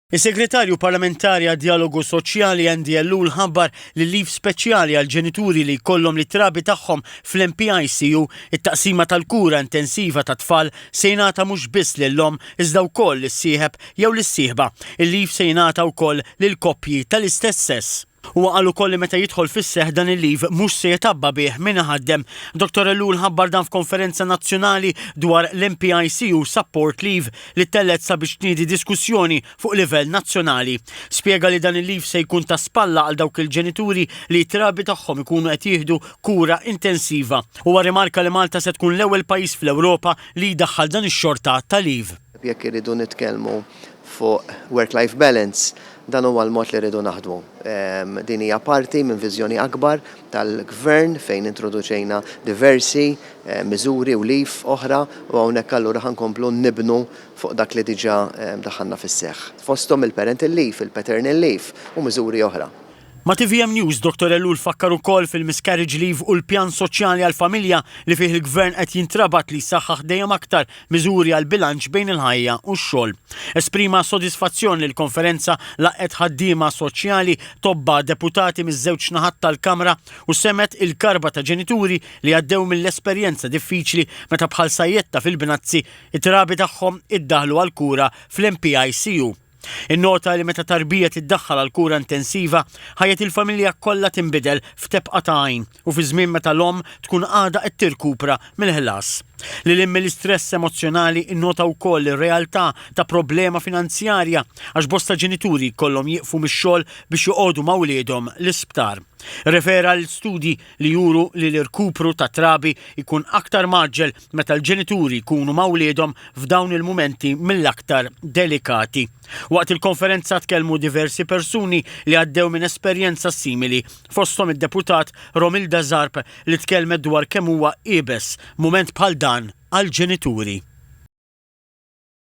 Is-Segretarju Parlamentari għad-Djalogu Soċjali Andy Ellul ħabbar li l-leave speċjali għall-ġenituri li jkollhom lit-trabi tagħhom fl-NPICU, it-taqsima tal-kura intensiva tat-tfal, se jingħata mhux biss lill-omm iżda wkoll lis-sieħeb jew lis-sieħba. Il-leave se jingħata wkoll lil koppji tal-istess sess. Huwa qal ukoll li meta jidħol fis-seħħ dan il-leave mhux se jitgħabba bih min iħaddem. Dottor Ellul ħabbar dan f'konferenza nazzjonali dwar l-MPICU Support Leave li ttellgħet sabiex tniedi diskussjoni fuq livell nazzjonali. Spjega li dan il-leave se jkun ta' spalla għal dawk il-ġenituri li t-trabi tagħhom ikunu qed jieħdu kura intensiva. Huwa rrimarka li Malta se tkun l-ewwel pajjiż fl-Ewropa li jdaħħal dan ix-xorta ta' leave. Jekk irridu nitkellmu fuq work-life balance, dan huwa l-mod li rridu naħdmu. Din hija parti minn viżjoni akbar tal-Gvern fejn introduċejna diversi miżuri u leave oħra u hawnhekk allura ħa nkomplu nibnu fuq dak li diġà daħħalna fis-seħħ, fosthom il-parental leave, il-paternal leave u miżuri oħra. Ma' tvm News, Dottor Ellul fakkar ukoll fil-miscarriage leave u l-pjan soċjali għall-familja li fih il-Gvern qed jintrabat li jsaħħaħ dejjem aktar miżuri għall-bilanċ bejn il-ħajja u x-xogħol. Esprima sodisfazzjon li l-konferenza laqqgħet ħaddiema soċjali, tobba, deputati miż-żewġ naħat tal-Kamra u semgħet il-karba ta' ġenituri li għaddew mill-esperjenza diffiċli meta bħal sajjetta fil-Binazzi, it-trabi tagħhom iddaħħlu għall-kura fl-MPICU. Innota li meta tarbija tiddaħħal għal kura intensiva, ħajjet il-familja kollha tinbidel f'tebqa ta' għajn u fi żmien meta l-omm tkun għadha qed tirkupra mill-ħlas. Lil hinn mill-istress emozzjonali innota wkoll ir-realtà ta' problema finanzjarja għax bosta ġenituri jkollhom jieqfu mix-xogħol biex joqogħdu ma' wliedhom l-isptar. Irrefera għal studji li juru li l-irkupru tat-trabi jkun aktar mgħaġġel meta l-ġenituri jkunu ma' wliedhom f'dawn il-mumenti mill-aktar delikati. Waqt il-konferenza tkellmu diversi persuni li għaddew minn esperjenza simili, fosthom id-Deputat Romilda Zarb li tkellmet dwar kemm huwa iebes mument bħal dan għall-ġenituri.